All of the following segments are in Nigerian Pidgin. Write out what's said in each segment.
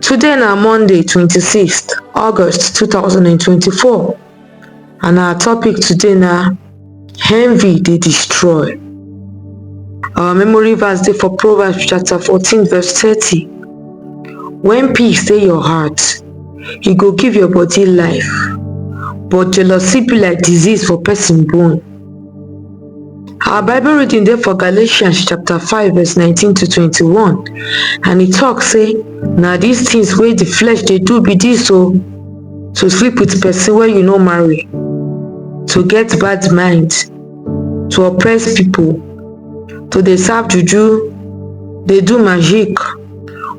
today na monday twenty six august two thousand and twenty four and our topic today na envy dey destroy our memory verse dey for proverbs chapter fourteen verse thirty when peace dey your heart e go give your body life but jealousy be like disease for person bone Our Bible reading dey for Galatians chapter 5 verse 19 to 21 and e talk say na these things wey the flesh dey do be this o to sleep with person wey you no marry, to get bad mind, to oppress people, to dey serve juju, dey do magic,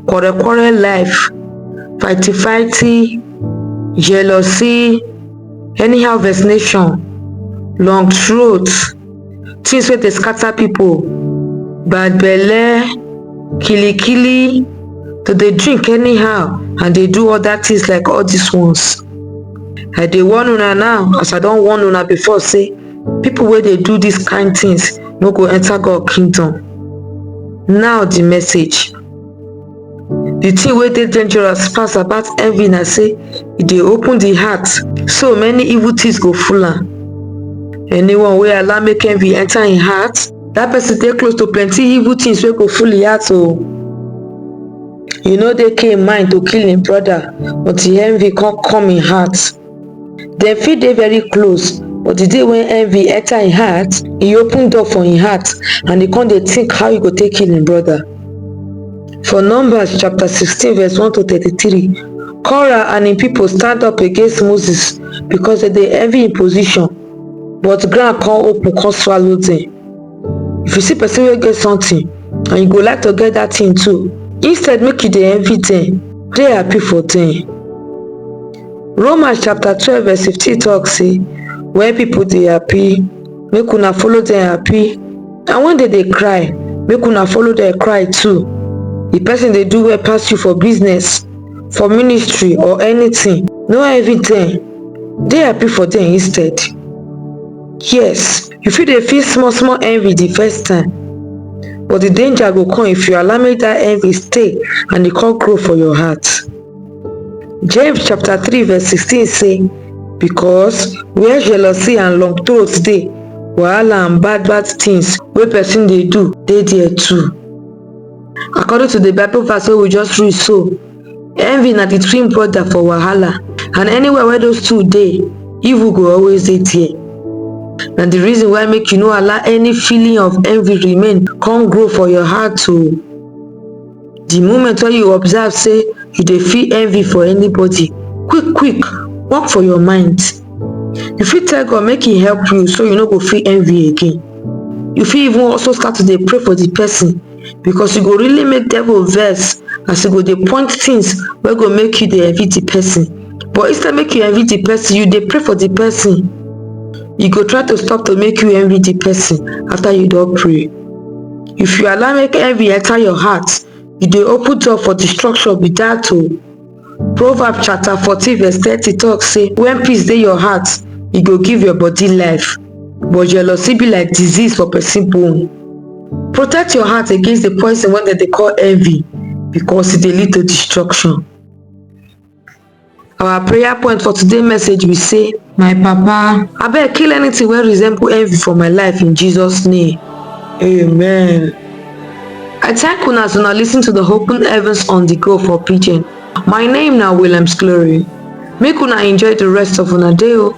quarrel quarrel life, fighty fighty, jealousy, anyhow vaccination long throat things wey dey scatter people bad belle kili kili to dey drink anyhow and dey do other things like all these ones i dey warn una now as i don warn una before say people wey dey do these kind things no go enter god kingdom now the message Di tin wey dey dangerous pass about envy na sey e dey open di heart so many evil tins go full am. Anyone wey allow make envy enter im heart, dat pesin dey close to plenty evil tins wey go full im heart o. E no dey Cain mind to kill im broda until envy kon come im heart. dem fit dey very close but di day wey envy enter im heart e open door for im heart and e come dey think how e go take kill im brother for numbers chapter sixteen verse one to thirty three korah and im people stand up against moses because dem dey envy im position but ground come open come swallow dem if you see person wey get something and you go like to get that thing too instead make you dey envy dem dey happy for dem Romans chapter twelve verse fifteen talk say when people dey happy make una follow dem happy and when dem dey cry make una follow dem cry too the person dey do well pass you for business for ministry or anything no envy dem dey happy for dem instead yes you fit dey feel small small envy the first time but the danger go come if you allow make that envy stay and e come grow for your heart James chapter 3 verse 16 say, Because where jealousy and long throat dey, wahala and bad bad things wey person dey do dey there too. According to the Bible verse wey we just read so, envy na the twin brother for wahala and anywhere where those two dey, evil go always dey there. Na the reason why make you no allow any feeling of envy remain come grow for your heart o. di moment wey you observe sey you dey feel envy for anybody quick quick work for your mind you fit tell God make he help you so you no go feel envy again you fit even also start to dey pray for the person because you go really make devil vex as you go dey point things wey go make you dey envy the person but instead make you envy the person you dey pray for the person you go try to stop to make you envy the person after you don pray if you allow make envy enter your heart you dey open door for destruction be dat o proverb chapter fourteen verse thirty talk say when peace dey your heart e go give your body life but jealousy be like disease for person bone protect your heart against the poison wey dem dey call envy because e dey lead to destruction Our prayer point for today message be say, My Papa, I beg kill anything wey resemble envy for my life in Jesus name. Amen. I thank una as una listen to the Open Heavens on the Go for Pidgin. My name na Williams Glory. Make una enjoy the rest of una day o.